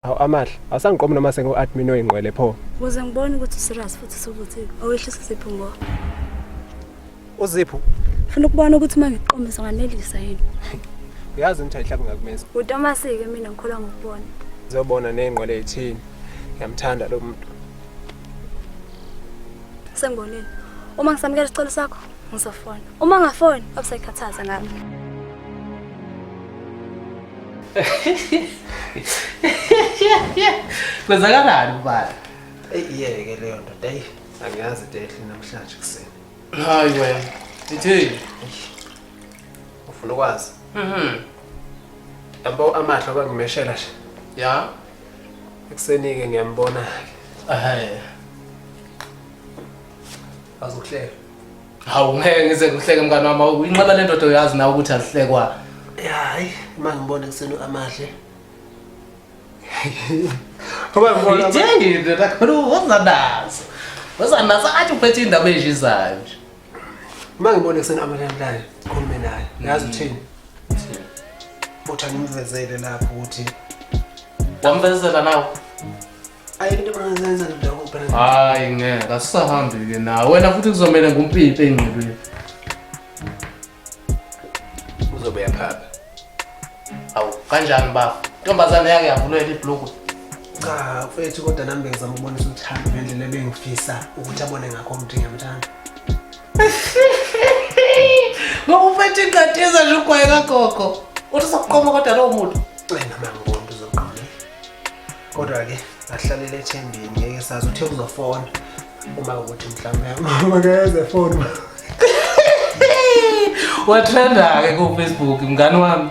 Awu amahle, awusangiqomi noma sengu admin oyingqwele pho. Muze ngibone ukuthi serious futhi sokuthi awehlisa isipho ngo. Uzipho. Funa ukubona ukuthi mangiqomisa nganelisa yini. Uyazi umthayi hlabe ngakumeza. Utomasike mina ngikholwa ngokubona. Zobona nengqwele ethini. Ngiyamthanda lo muntu. Sengibonile. Uma ngisamukela isicelo sakho, ngizofona. Uma ngafoni, abusayikhathaza ngami. kwenzakalani ubala eyiyeke leyo ndoda eyi angiyazi dehle namhlanje kuseni hayi wena ithini ufuna ukwazi mhm yabo amahlo abangimeshela nje ya ekuseni-ke ngiyambona-ke Bazokuhleka. Hawu ngeke ngize ngihleke mngane wami uyinqaba le ndoda uyazi nawe ukuthi azihlekwa. Hayi uma ngibona kusenu amahle. Ngoba ngibona idingi into kakhulu wozanazo. Wozanazo athi uphethe indaba ejizayo nje. Uma ngibona kusenu amahle naye khulume naye. Yazi uthini? Futhi angimvezele lapho ukuthi wamvezela nawe. hayi ngeke asisahambi-ke nawe wena futhi kuzomele ngumpimpe engqibile uzobe yaphapha awu kanjani bafo ntombazane yake yavulela ibhulukwe cha mfethu kodwa nami bengizama ukubonisa uthando ngendlela ebengifisa ukuthi abone ngakho umthi ngiyamthanda ngoba uphethe ingqadiza nje ugwaye kagogo uthi sokuqoma kodwa lowo muntu wena mangibona uzoqoma kodwa ke ahlalela ethembeni ngeke sazi uthe uzofona uma ukuthi mhlawumbe makeze foni wathanda-ke kufacebook mngani wami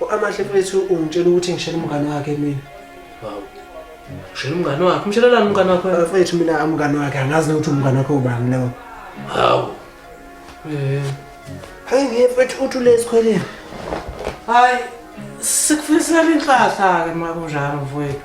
U-Amahle mfethu ungitshela ukuthi ngishela umngane wakhe mina. Hawu. Ushela umngane wakhe, umshelelani umngane wakho? Eh, Mfethu mina umngane wakhe angazi nokuthi umngane wakhe ubani lowo. Hawu. Eh. Hayi ngeke mfethu uthi ule esikhweleni. Hayi sikufisela inhlahla-ke uma kunjalo mfowethu.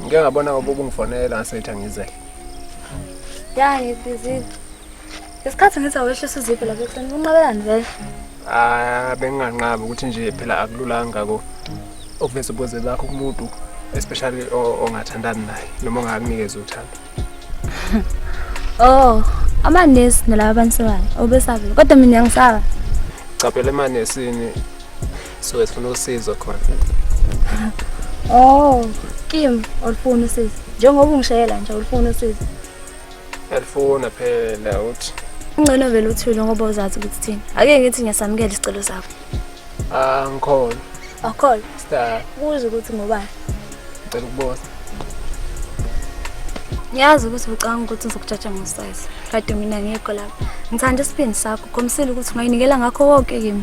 ngike ngabona ngoba ubungifonela ngasethi angize ya ngibhizile isikhathi ngithi awehlisa iziphi lapha ekuseni kunqabelani vele ah benginganqabi ukuthi nje phela akululanga ko okuveza ubuze bakho kumuntu especially ongathandani naye noma ongakunikeza uthando oh amanesi nalaba bantu sebani obesabile kodwa mina ngisaba capela emanesini so esifuna usizo khona oh kim olufuna usizo njengoba ungishayela nje olufuna usizo alifuna phela uthi ungcono vele uthule ngoba uzazi ukuthi thina ake ngithi ngiyasamukela isicelo sakho ah ngikhona akhona star kuze ukuthi ngobani ngicela ukubona ngiyazi ukuthi ucanga ukuthi ngizokujaja ngosize kade mina ngekho lapha ngithanda isibindi sakho khomisile ukuthi ungayinikela ngakho konke kimi